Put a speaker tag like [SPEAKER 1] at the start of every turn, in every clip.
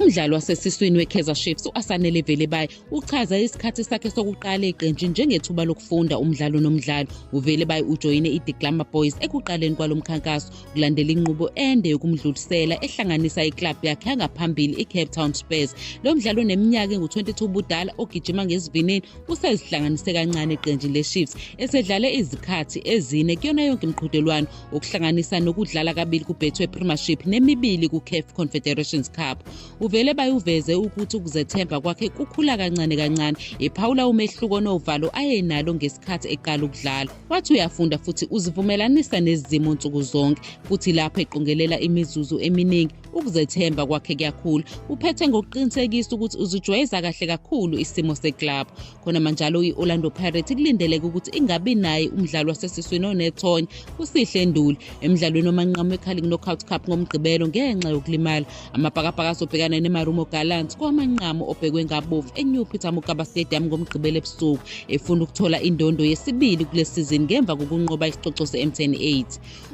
[SPEAKER 1] Umdlali wasesiswini weKaizer Chiefs u-Asanele Velebayi uchaza isikhathi sakhe sokuqala eqenjini njengethuba lokufunda umdlalo nomdlalo. UVelebayi ujoyine iThe Glamour Boys ekuqaleni kwalo mkhankaso kulandela inqubo ende yokumdlulisela ehlanganisa iklabhu yakhe yangaphambili iCape Town Spurs. Lo mdlali oneminyaka engu-22 ubudala ogijima ngesivinini usezihlanganise kancane eqenjini leChiefs esedlale izikhathi ezine kuyona yonke imiqhudelwano okuhlanganisa nokudlala kabili kubetway premiership nemibili kucaf confederations cup uvele bayuveze ukuthi ukuzethemba kwakhe kukhula kancane kancane ephawula umehluko novalo ayenalo ngesikhathi eqala ukudlala wathi uyafunda futhi uzivumelanisa nezimo nsuku zonke futhi lapho eqongelela imizuzu eminingi ukuzethemba kwakhe kuyakhula uphethe ngokuqinisekisa ukuthi uzijwayeza kahle kakhulu isimo seklabhu khonamanjalo i-orlando pirates kulindeleke ukuthi ingabi naye umdlali wasesiswini onethonya usihle nduli emdlalweni omanqamu wecarling knockout cup ngomgqibelo ngenxa yokulimala amabhakabhaka azobhekana nemarumo gallants kowamanqamu obhekwe ngabovu enew peter mugaba stadium ngomgqibelo ebusuku efuna ukuthola indondo yesibili kule sizini ngemva kokunqoba isicoco se-mtn 8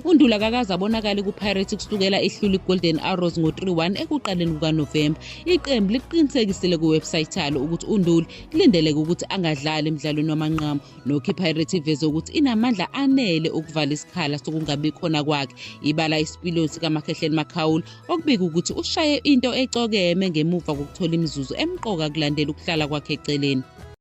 [SPEAKER 1] UNdula kakaze abonakale kuPirates kusukela ihlula iGolden Arrows ngo-3-1 ekuqaleni kukaNovemba. Iqembu liqinisekisile kuwebsite yalo ukuthi uNduli kulindeleke ukuthi angadlali emdlalweni wamanqamu. Nokho iPirates iveze ukuthi inamandla anele okuvala isikhala sokungabi khona kwakhe. Ibala isipiliyoni sikaMakhehleni Makhaula okubika ukuthi ushaye into ecokeme ngemuva kokuthola imizuzu emqoka kulandela ukuhlala kwakhe eceleni.